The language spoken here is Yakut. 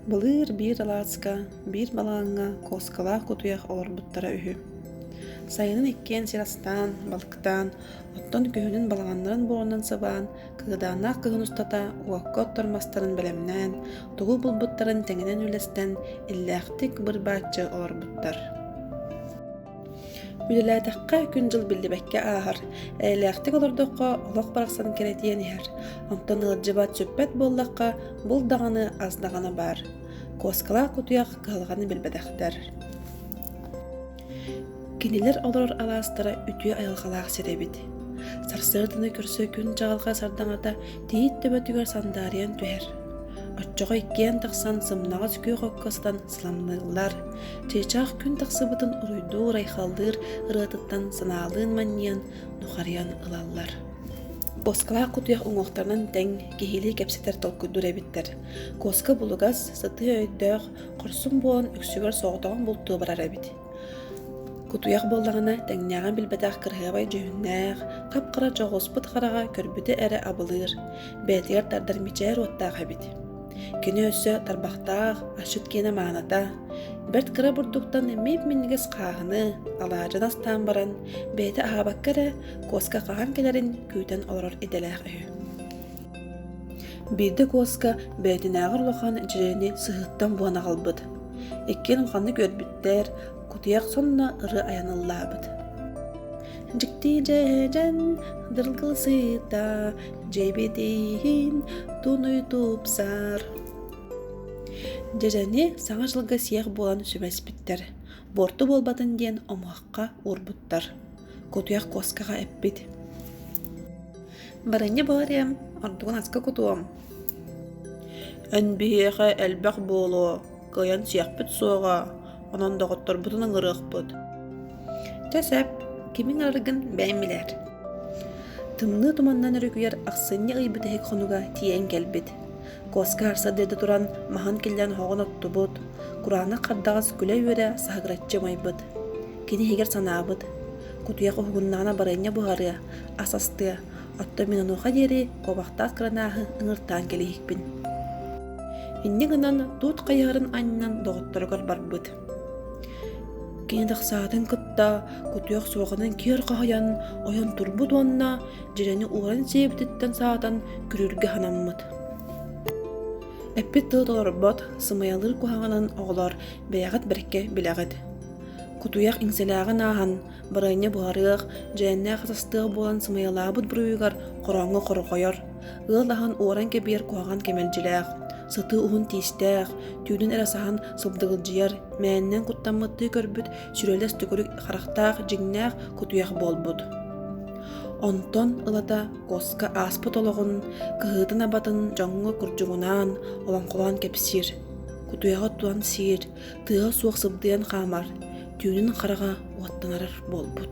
Былыр биир алааска, биир балаҥҥа куоскалаах кутуйах олорбуттара үһү. Сайынын иккиэн сир астаан, балыктаан, оттон күһүнүн балаҕаннарын буорунан сабаан, кыгадааннаах кыһын устата уокка оттор мастарын бэлэмнээн, тугу булбуттарын тэҥинэн үлэстэн, иллээхтик быр-бааччы олорбуттар. Үлэлээтэххэ күн-дьыл биллибэккэ ааһар, эйэлээхтик олордоххо олох барахсан кэрэтиэн иһэр. Онтон ыалдьыбат сүппэт буоллахха, бул даҕаны ас даҕаны баар. Куоскалаах кутуйах кыһалҕаны билбэтэхтэр. Кинилэр олорор алаастара үтүө айылҕалаах сир эбит. Сарсыарданы көрсө күн чаҕылҕа сардаҥата тиит төбөтүгэр сандаарыйан түһэр. Оччоҕо иккиэн тахсан сымнаҕас күөх окко ыстан сыламныыллар, чыычаах күн тахсыбытын уруйдуур райхаллыыр ырыатыттан санаалыын манньыан нухарыйан ылаллар куоскалаах кутуйах уҥуохтарынан тэҥ киһилии кэпсэтэр толкуйдуур эбиттэр куоска булугас сытыы өйдөөх хорсун буолан үксүгэр соҕотоҕун бултуу барар эбит кутуйах буоллаҕына тэҥнээҕин билбэтэх кыраһыабай дьүһүннээх хап-хара дьоҕуспут хараҕа көрбүтэ эрэ абылыыр бэйэтигэр тардар мичээр уоттаах эбит Кини өссө тарбахтаах, ашыт киэнэ мааната, бэрт кыра бурдуктан имиик минньигэс хааһыны алаадьын астаан баран, бэйэтэ аһаабакка эрэ куоска хаһан кэлэрин күүтэн олорор идэлээх үһү. Биирдэ куоска бэйэтинээҕэр улахан дьирэни сыһыыттан буһан аҕалбыт. Иккиэн уханнык үөрбүттэр, кутуйах сонно ыры аяныллаабыт дьикти дьэдьэн дыргылсыыта дьэбэтиин тунуй тупсар дьэдьэни саҥа дьылга сиэх буолан сүбэспиттэр буорту буолбатын диэн омуохха уурбуттар кутуйах куоскаҕа эппит барынньа буориам ордугун аска кутуом эн биһиэхэ элбэх буолуо кыайан сиэхпит суоҕа, онон доҕотторбутун ыҥырыахпыт. Чэ сөп, кимин арыгын бэйм билэр. Тымныы туманнан өрүкүйэр ахсынньы ый бүтэһик хонуга тиийэн кэлбит. Куоска арсадыыта туран маһан киллэн хоҕон оттубут, кураанах хардаҕас күлэ-үөрэ саһыгыраччы умайбыт. Кини иһигэр санаабыт, кутуйах уһугуннаҕына барыанньа буһарыа, ас астыа, Оттон мин онуоха диэри куобахтаах кранааһы ыҥыртаан кэбиһикпин. Инньэ гынан туут хайыһарын аннынан доҕотторугар барбыт. Кини тахсаатын кытта кутуох суоҕунан киэр хаһыйан ойон турбут уонна дьирэни ууран сиэбититтэн саатан күрүүргэ санаммыт. Эппит тылы толорбот, сымыйалыыр куһаҕанын оҕолор бэйэҕит бэркэ билэҕит. Кутуйах иҥсэлээҕин ааһан Бырайыны буһарыах, дьээннээх атастыах буолан сымыйалаабыт буруйугар хороҥҥо хорҕойор. Ыал аһын уоран кэбиэр куһаҕан кэмэлдьилээх. Сытыы уһун тиистээх, түүнүн эрэ саһан сыбдыгылдьыйар, мээннэн куттаммыттыы көрбүт сүрэлэс төкүрүк харахтаах дьиҥнээх кутуйах буолбут. Онтон ылата куоска ааспыт олоҕун, кыһыытын-абатын дьоҥҥо курдьугунаан, олоҥхолоон кэпсиир. Кутуйаҕы туан сиир, тыаһа суох сыбдыйан хаамар түүнүн хараҕа уоттанар буолбут